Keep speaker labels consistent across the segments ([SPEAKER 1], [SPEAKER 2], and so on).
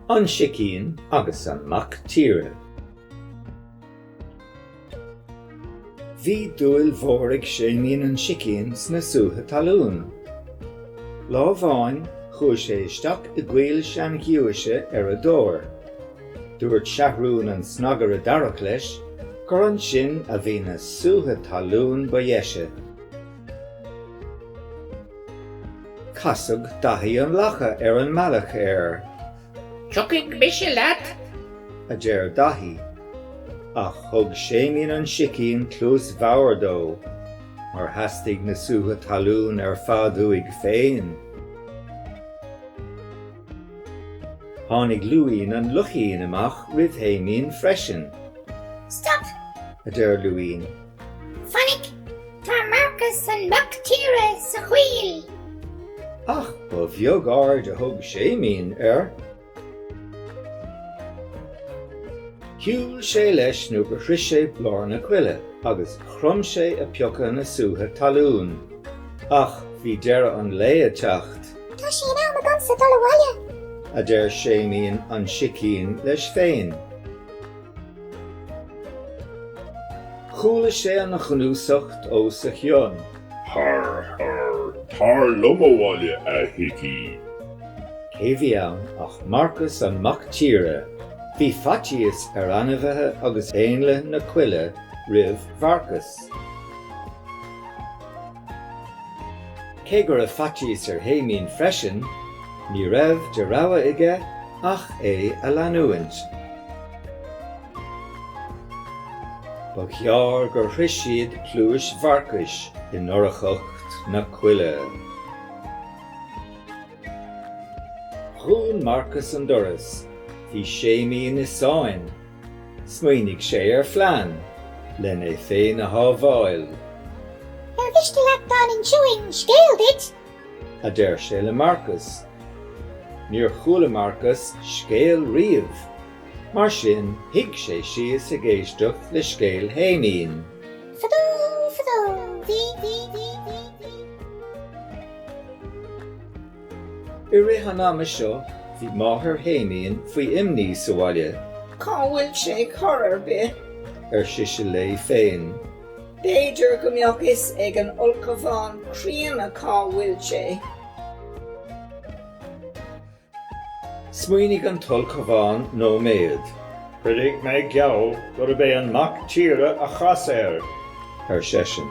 [SPEAKER 1] An sicín agus an mac tíre. Bhí dúil mhór ag Séimín an sicín sna sútha talún. Lá amháin chuaigh sé isteach i gcoill sean-ghiúise ar a dtóir. Dúirt Seathrún an Snagaire Darach leis gur ansin a bhí na sútha talún ba dheise. Casadh Daithí an Lacha ar an mbealach air. 'Tiocfaidh mise leat! a deir Daithí. Ach thug Séimín an Sicín cluas bhodhar dó, mar theastaigh na sútha talún ar fad uaidh féin. Tháinig Luín an Luichín amach roimh Shéimín freisin. Stop! a deir Luín. Fainic! Tá Marcas an Mac Tíre sa choill! Ach ba bheag aird a thug Séimín air. Shiúil sé leis nó gur shroich sé lár na coille agus chrom sé ag piocadh na sútha talún. Ach bhí deireadh an lae ag teacht. Tá sé in am agamsa dul abhaile. a deir Séimín an Sicín leis féin. Chuala sé an ghnúsacht os a chionn. Har, har, tar liom abhaile, a Shicín! Cé bhí ann ach Marcas an Mac Tíre! Bhí faitíos ar ainmhithe agus éanlaith na coille roimh Mharcas. Cé go raibh faitíos ar Shéimín freisin, ní raibh de rogha aige ach é a leanúint. Ba ghearr gur shroich siad pluais Mharcais i ndorchacht na coille. Dhún Marcas an doras, bhí Séimín i sáinn. Smaoinigh sé ar phlean len é féin a shábháil. Ar mhiste leat dá n-inseoinn scéal duit? a deir sé le Marcas. Níor chuala Marcas scéal riamh, mar sin shuigh sé síos ag éisteacht le scéal Shéimín. Fadó, fadó. I rith an ama seo, bhí máthair Shéimín faoi imní sa bhaile. Cá bhfuil sé ar chor ar bith? ar sise léi féin. B'fhéidir go mbeadh fhios ag an ulchabhán críonna cá bhfuil sé. Smaoinigh an t-ulchabhán nóiméad. Cuirfidh mé geall gurb é an mac tíre a chas air, ar seisean.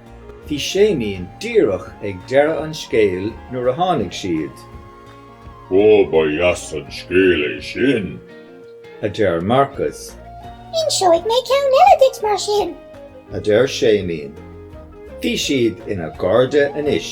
[SPEAKER 1] Bhí Séimín díreach ag deireadh an scéil nuair a tháinig siad. Ó, ba dheas an scéal é sin! a deir Marcus. Inseoidh mé ceann eile dhuit, mar sin! a deir Séimín. Bhí siad ina gcairde anois.